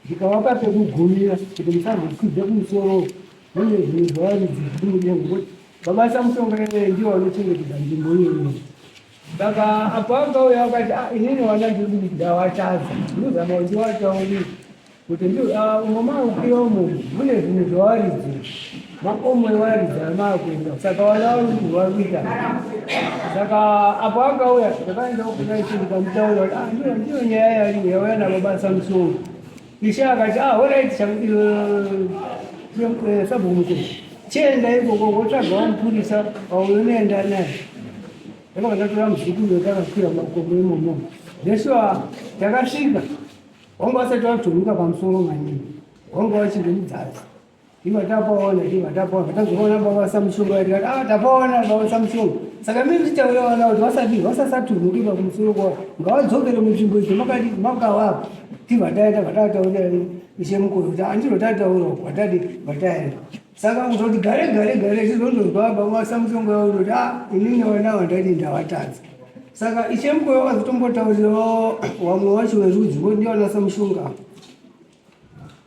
ndikavapa pekugumira kuti musazokwidza kumusoro mune zvinhu zvavaridzi zvidude ngokuti baba samusonga ivee ndivo vanochengetedza nzvimbo iyoyo saka apo angauya akati ah, inini wana ndiri kuti ndawataza ndozama kuti ndiwatauri kuti ah, umwe maukiwa umo mune zvinhu zvavaridzi makomo evaridzi anaa kuenda saka vana varundi vakuita saka apo akauya ndakaenda kunaiti ndikamutaura kuti ah, ndiyo ndiyo nyaya yariyo yauya nababasa musoro ishe akati ah horaiti sabhumuko chienda ikoko wotsvagawo mupurisa waunoenda naye ndakabva ndatora muzukuru wetakakwira makomo imomo ndesua takasvika wanga wasati watomuka pamusoro maningi wanga wachiri mudzadzi Iva tapaona iva tapaona tazoona baba Samsung ati ah tapaona baba Samsung saka mimi ndichauya wana kuti vasati vasasaturuke pa kumusoro kwa ngawadzokere munzvimbo idzo makati makawapa tiva taita vatataura ishe mukuru kuti andiro tataura vatati vataenda saka kuzoti gare gare gare tizondonzwa baba Samsung yavo kuti ah inini wana wandati ndavatadza saka ishe mukuru vakazotombotaurirawo wamwe wacho werudzi voti ndiwana Samsung apa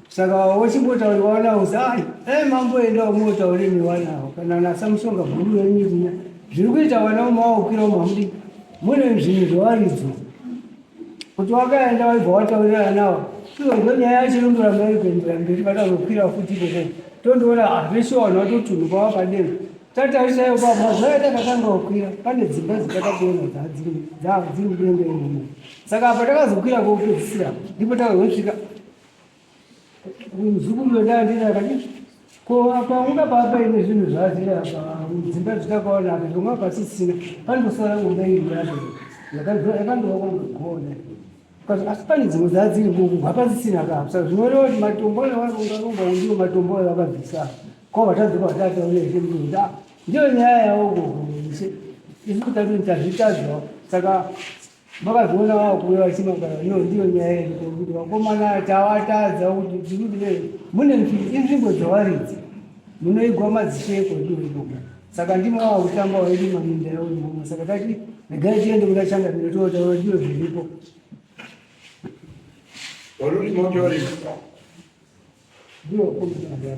saka wachimbotauriwa nawo zai e mambo enda umotaure newanawo kana nasamushonga bhuru renyiriya zviri kuita vana umawaukira umamudi mune zvinhu zvawaridzo kuti wakaenda waibva wataurirana nawo ivo ndo nyaya yacho inondoramba iri kuendera mberi vakazokwira futi ikoko tondoona hazvese ah, vanhu vatotunhu kwava padera tatarisayo pamazvaya takatanga kukwira pane dzimba dzitakakuona dzadziri dziri kudenga imomo saka apa takazokwira kokupedzisira ndipo takazosvika muzukuru wendaa ndini akadii ko apa unga paapa ine zvinhu zvaazviri apa dzimba dzitakaona apa zvomwa pasisina pandosara ngomba iri yacho yakandovakondogoona asi pane dzimwe dzadziri kuku hapasisina kapsa zvinoreva kuti matombo nevaungarumba ndiwo matombo avakabvisa ko vatadzoka vatataurezve mnda ah, ndiyo nyaya yavo kuhurumende isi kuti tazvitadzwa saka Makazviona wao kuuya vachimagara iyo ndiyo nyaya yedu kuti vakomana tawatadza kuti tiri mune inzvimbo dzawaridzi munoigwa madzisheko ndiyo ikoko saka ndimo wava kutamba waidi maminda yavo imama saka tati regai tiende kuda changa pino tootaura ndiyo zviripo ndiyo komaaaa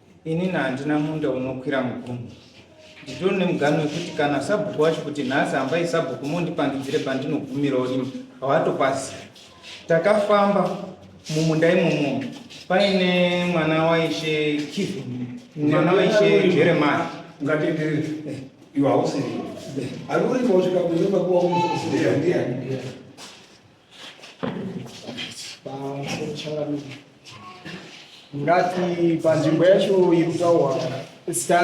Inini handina munda unokwira mugumo. Nditori nemugano wekuti kana sabhuku wacho kuti nhasi hambai sabhuku mondipangidzire pandinogumirawo ini hawatopazi. Takafamba mumunda imomo paine mwana waishe Kivin, mwana waishe Jeremiah. Ngatienderere. Eh. Iwe hausiri. Ari uri kwausvika kunyumba kuwa umusiri ndiani? ngati panzvimbo yacho iri kutaurwa zita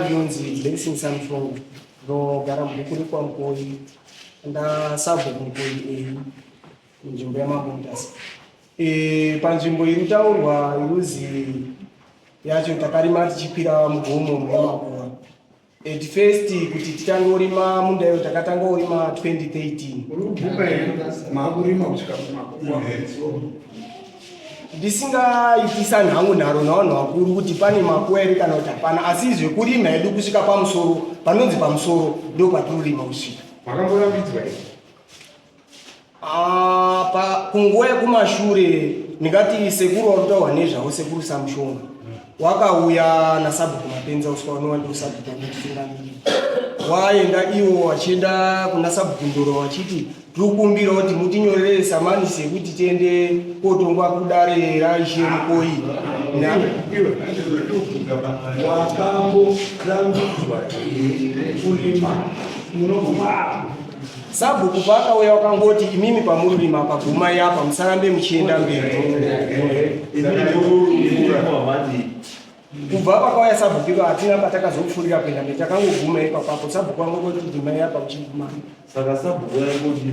rinonzi blessing samsong ndogara mubhuku rekwamukoyi ndasabva kumukoyi eyi munzvimbo yamamontas e, panzvimbo iri kutaurwa iruzi yacho takarima tichikwira mugomo muyamakoyi At first kuti tichangorima munda iyo takatanga kurima 2013 ndisingaitisani hangu nharo navanhu vakuru kuti pane makuwa ere kana kuti hapana asi zvekurima hedu kusvika pamusoro panonzi pamusoro ndo patinorima kusvika Ah, pa kunguva yekumashure ndingati sekuru wautaurwa nezvavo sekuru samushonga wakauya nasabhuku mapenza uswa unova ndiwo sabhuku anotitungamiri waenda iwo wachienda kuna sabhuku ndoro wachiti tiri kukumbira kuti mutinyorere samanisi yekuti tiende kotongwa kudare raishe mukoyi wakamborambidzwa here kurima unokumaa Sabhuku paakauya wakangoti imimi pamururima apa gumai apa musarambe muchienda mberi. Kubva pakauya sabhuku ipa hatina patakazopfuurira kuenda mberi takangoguma ipapapo sabhuku wangongoti gumai apa muchiguma. Saka sabhuku waingoti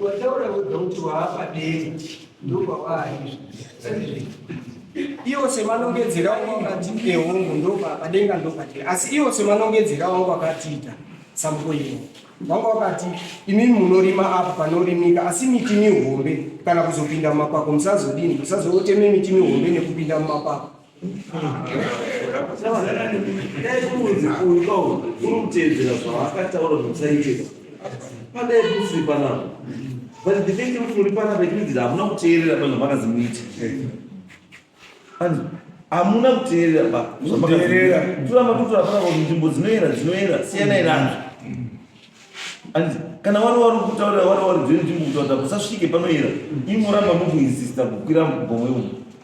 Wataura wega kuti waapadero ndopawaari izvi. Iwo semanongedzera wangu akati ehongu ndopadenga ndopatiri asi iwo semanongedzera wangu akatiita samuko ino wangu wakati imi munorima apo panorimika asi miti mihombe kana kuzopinda mumakwako musazodini musazoteme miti mihombe nekupinda mumakwako hamuna kuteerera ba zvamakazvitoramba totora pana kuti nzvimbo dzinoera dzinoera siyanai nazvo and kana wari wari kutaurira wari wari dziri nzvimbo kutaurira kusasvike panoera imoramba mukuinsista kukwira mugomwe umu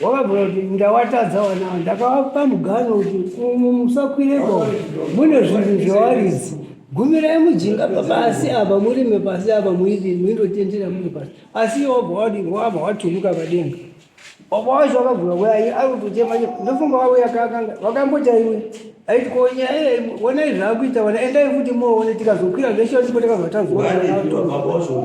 Wakabvira kuti ndawatadza vana ava ndakavapa mugano kuti umu musakwirepo mune zvinhu zvewaridzi gumirai mujinga pabasi apa murime pasi apa muidii muindotendera muri pasi asi iye wabva wadii wabva waturuka padenga baba wacho wakabvira wai ari kutotema ndofunga wavo yakakanga vakamboti aiwe aiti ko nyaya iye wonai zvaakuita vana endai futi moone tikazokwira zveshe ndipo takazotanzwa Wani, baba wacho.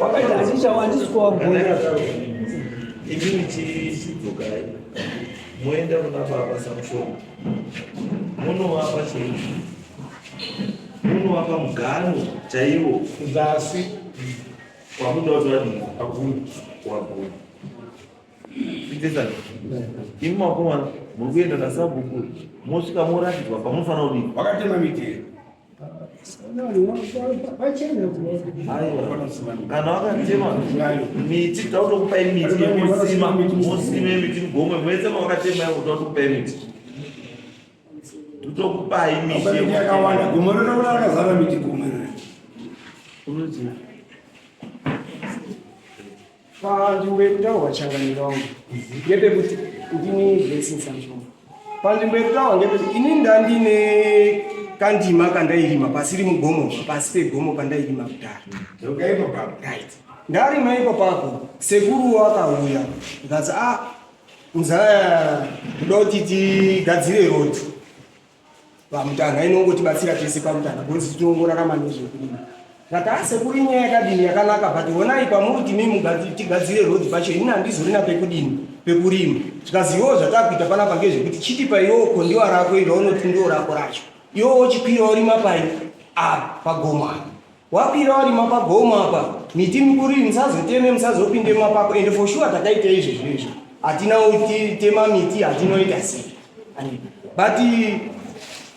Wakataticha wandisiko wagona. Imini chichidzokari. Moenda kuna baba Samsoni. Munovapa chii? Munovapa mugano chaiwo kuzasi kwamunoda kuti vadii? Wagona. Wagona. Ndezani? Imi makomana muri kuenda nasabhuku mosvika moratidzwa pamunofanira kudii? Wakatema mitero. kana wakatema miti tautokupai miti yekusima musime miti mugomwe mwese mawakatema yavo tautokupai miti tokupai miti yakawanda gomwe ronaona akazara miti gomwe panzvimbo yekutaurwa changaniro wangu ngepekuti ndini blessing sanzvombo panzvimbo yekutaurwa ngepekuti ini ndandine kandima kandairima pasiri mugomo pasi pegomo pandairima kudhara right ndarima iko pako sekuru wakauya ndikati a ah, mzaya kuda kuti tigadzire roti pamutanga inongotibatsira tese pamutanga because tinongorarama nezvekurima zvataase kuri nyaya yakadini yakanaka but honai pamuri kuti mimi tigadzire road pacho ini handizorina pekudini pekurima zvikazivawo zvatakuita panapa ngezvekuti chiti paiwo kondiwa rako iro unotindiwo rako racho iwo wochikwira orima pai a ah, pagomana Wakwira warima pagomo apa miti mikuru iyi musazoteme musazopinde mapako ende for sure takaita izvi zvinhu izvi hatina kutitema miti hatinoita sei but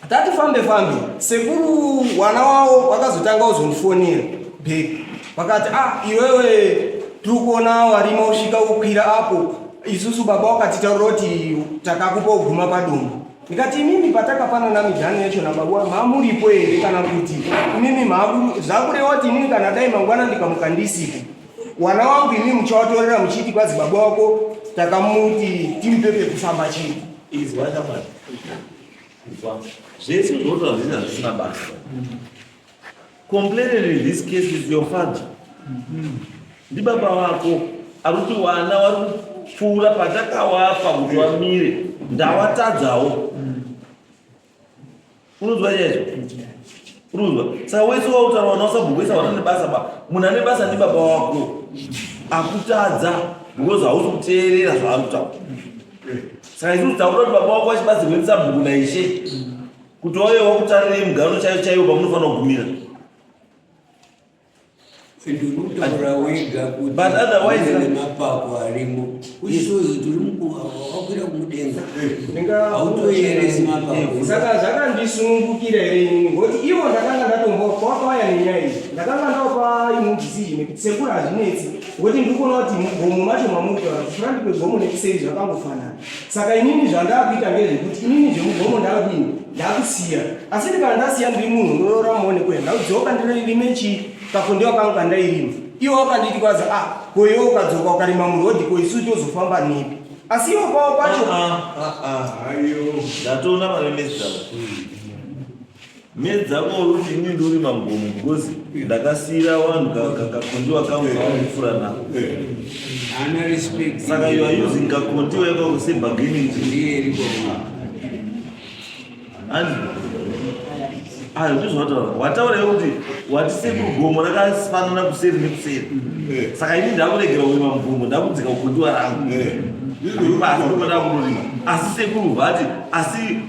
tati fambe fambe sekuru wana wavo vakazotanga kuzondifonera back vakati ah iwewe tiri kuona warima usvika ukwira apo isusu baba wakatitaurira kuti takakupa kuguma padumbu ndikati imimi patakapanana midhani yacho nababa wangu hamuripo here kana kuti imimi maaku zvakureva kuti inini kana dai mangwana ndikamuka ndisipo wana wangu imimi muchawatorera muchiti kwazi baba wako takamuti timupe pekufamba chii zvese zvoto hazvina zvisina basa Complaining in this case is your father. Ndi baba wako akuti wana wari kupfuura patakawapa kuti wamire ndawatadzawo. Unonzwa chaizvo? Unonzwa? Saka wese wautaura wana usabhogoisa wana nebasa ba. Munhu ane basa ndi baba wako. Akutadza because hausi kuteerera zvaari kutaura. Saka isusu takuda kuti baba wako achibatsirwe nesabhuku naishe. kuti wave wakutarira yemugaro chaiyo chaiyo pamunofanira kugumira but otherwise nemapako arimo uchisozi tiri mukuakwira kumudenga hautoyeresi mapakosaka zvakandisunungukira here inini ngokuti ivo ndakanga ndatombo kwakauya nenyaya iyi ndakanga ndapa imwe decision nekuti sekuru hazvinetsi ngokuti ndikuona kuti mugomo macho mamutaura kuti furandi kwegomo nekuseri zvakangofanana saka inini zvandakuita ngezvekuti inini zvemugomo ndakudini ndakusiya asi ndi kana ndasiya ndiri munhu unoyora muone kuya ndakudzoka ndirime chii kakondewa kangu kandairima iwo wakanditi kwaza a ah, koiwe ukadzoka ukarima murodhi ko isu tozofamba nepi asi iwo kwavo kwacho ah, ah, ndatoona maremesaa Me dzako uruti ini nduri magomo because ndakasiyira vanhu kakondiwa kangu kavanofura nako saka you are using kakondiwa ikako sebargaining and ayo ndizvataura wataura yekuti wati sekuru gomo rakafanana kuseri nekuseri eh. saka ini ndakuregera kurima mugomo ndakudzika kukondiwa rangu eh. asi sekuru vati asi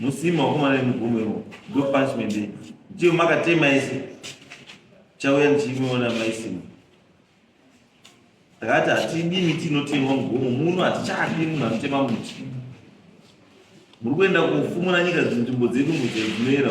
musima wakomana nemugumiro ndo punishment iyi ndiyo makatema ese chauya ndichimuona maisima takati hatidi miti inotemwa mugomo muno hatichadi munhu anotema muti muri kuenda kufumura nyika dzinzvimbo dzedu mudze dzinoera